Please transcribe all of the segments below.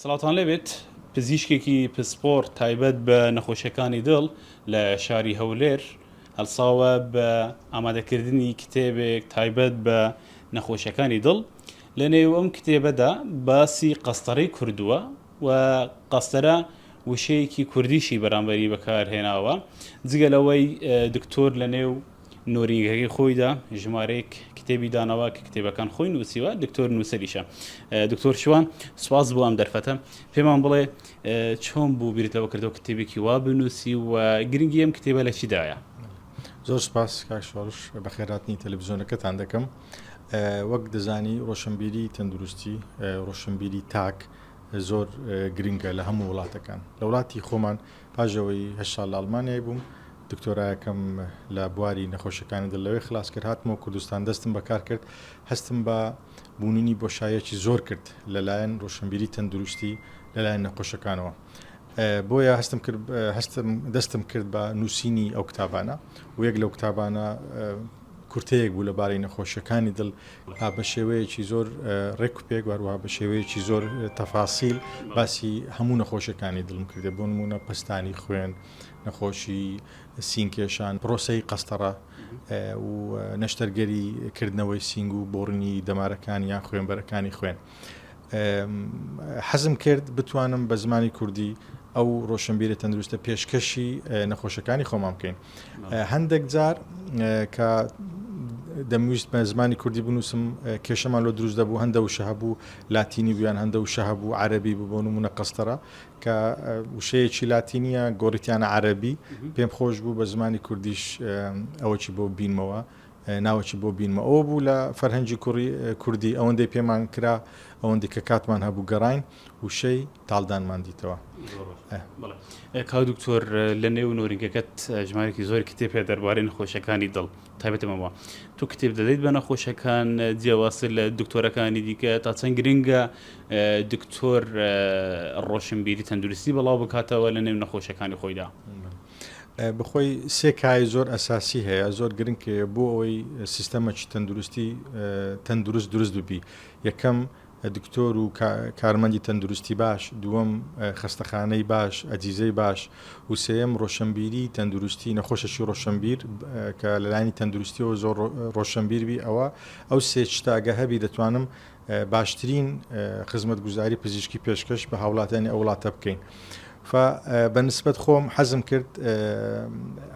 سڵاوتان لێ بێت پزیشکێکی پسپۆڕ تایبەت بە نەخۆشیەکانی دڵ لە شاری هەولێر هەلساوە بە ئامادەکردنی کتێبێک تایبەت بە نەخۆشیەکانی دڵ لە نێو ئەم کتێبەدا باسی قەستەرەی کردووە و قەستەرە وشەیەکی کوردیشی بەرامبەری بەکارهێناوە جگە لەوەی دکتۆر لە نێو نۆرینگەکەی خۆیدا ژمارەیەک کتێبی داناوە کە کتێبەکان خۆی نووسیوە، دکتۆر نووسەریشە. دکتۆر شوان سوپاس بۆ ئەم دەرفەتە، پێمان بڵێ چۆن بوو بیرت لەوە کردەوە کتێبێکی وا بنووسی و گرنگی ئەم کتێبە لە چیدایە؟ زۆر سپاس کاک شۆڕش بەخێراتنی تەلەڤزیۆنەکەتان دەکەم وەک دەزانی ڕۆشنبیری تەندروستی ڕۆشنبیری تاک زۆر گرنگە لە هەموو وڵاتەکان لە وڵاتی خۆمان پاش ئەوەی هەشت ساڵ لە ئەڵمانیای بووم، دکتۆرایەکەم لە بواری نەخۆشیەکانی دڵ لەوێ خلاس کرد، هاتمەوە کوردستان دەستم بە کار کرد، هەستم بە بووننی بۆشاییەکی زۆر کرد لە لایەن ڕۆشنبیری تەندروستی لە لایەن نەخۆشەکانەوە بۆیە هەستم کرد هەستم دەستم کرد بە نووسینی ئەو کتابانە و یەک لەو کتابانە کورتەیەک بوو لەبارەی نەخۆشیەکانی دڵ ها بە شێوەیەکی زۆر ڕێک و پێک وەروەها بە شێوەیەکی زۆر تەفاسیل باسی هەموو نەخۆشیەکانی دڵم کردێ بۆ نمونە پەستانی خوێن نەخۆشی سینکێشان پرۆسەی قەستەڕە و نەشتەرگەری کردنەوەی سینگ و بۆڕنی دەمارەکان یان خوێنبەرەکانی خوێن حەزم کرد بتوانم بە زمانی کوردی ئەو ڕۆشنبیرە تەندروستە پێشکەشی نەخۆشەکانی خۆمان بکەین هەندێک جار کە دەمویست بە زمانی کوردی بنووسم کێشەمان لۆ دروست دەبوو هەندە وشە هەبوو لاتینی بوویان هەندە وشە هەبوو عەربی ببوون و منە قەستەرە کە وشەیەکی لاتینیە گۆڕیتیانە عەربی پێم خۆش بوو بە زمانی کوردیش ئەوەی بۆ بینمەوە ناوەکی بۆ بینمە ئەو بوو لە فەرهەنگی کوڕی کوردی ئەوەندەی پێمان کرا ئەوەندی کە کاتمان هەبوو گەڕین وشەی تاڵدانمان دیتەوە. کاک دکتۆر لە نێو نۆرینگەکەت ژمارێکی زۆر کتێب هەیە دەربارەی نەخۆشیەکانی دڵ تایبەتە بەمەوە تو کتێب دەدەیت بە نەخۆشەکان جیاوازتر لە دکتۆرەکانی دیکە تا چەند گرنگە دکتۆر ڕۆشنبیری تەندروستی بەڵاو بکاتەوە لە نێو نەخۆشەکانی خۆیدا. بخۆی سێ کای زۆر ئەساسی هەیە زۆر گرنگ بۆ ئەوەی سیستەمەکی تەندروستی تەندروست دروست ببی یەکەم دکتۆر و کارمەندی تەندروستی باش، دووەم خەستەخانەی باش، ئەجیزەی باش و سێیەم رۆشەنبیری تەندروستی، نەخۆشێکی رۆشەنبیر کە لەلایەنی تەندروستیەوە زۆر رۆشەنبیر بی ئەوا ئەو سێ شتە گە هەبی دەتوانم باشترین خزمەتگوزاری پزیشکی پێشکەش بە هاوڵاتیانی ئەو وڵاتە بکەین فە بە نسبەت خۆم حەزم کرد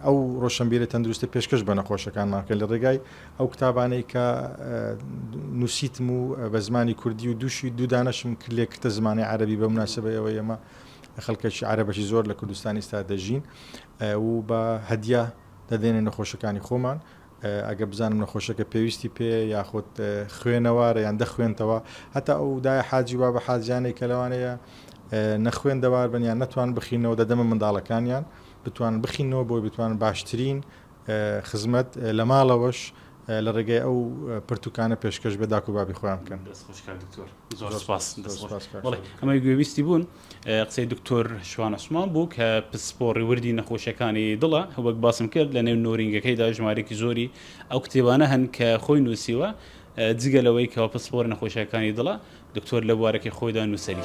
ئەو رۆشەنبیرە تەندروستە پێشکەش بە نەخۆشەکانمان کە لە رێگای ئەو کتابانەی کە نووسیتم و بە زمانی کوردی و دووشی دوو دانەشم کرد لێ کردە زمانی عەرەبی بە مناسبەی ئەوەی ئێمە خەڵکەکی عەرەبەکی زۆر لە کوردستانی ئێستا دەژین و بە هەدیە دەدەینە نەخۆشەکانی خۆمان ئەگە بزانم نەخۆشەکە پێویستی پێ یاخود خوێنەوارە یان دەخوێنتەوە هەتا ئەو دای حاجی بابە حاجیانەی کە لەوانەیە نەخوێن دەوار بن یان نەتوان بخینەوە دەدەمە منداڵەکانیان بتوان بخینەوە بۆی بتوان باشترین خزمەت لە ماڵەوەش لە ڕێگای ئەو پرتوکانە پێشکەش بە داک و بابی خۆیان بکەن. دەست خۆش کاک دکتۆر زۆر سوپاس. دەست خۆش کاک شادی. بەڵێ ئەمەی گوێبیستی بوون قسەی دکتۆر شوان عوسمان بوو کە پسپۆڕی وردی نەخۆشیەکانی دڵە وەک باسم کرد لە نێو نۆرینگەکەیدا ژمارەیەکی زۆری ئەو کتێبانە هەن کە خۆی نووسیوە جگە لەوەی کەوا پسپۆڕی نەخۆشیەکانی دڵە دکتۆر لە بوارەکەی خۆیدا نووسەری.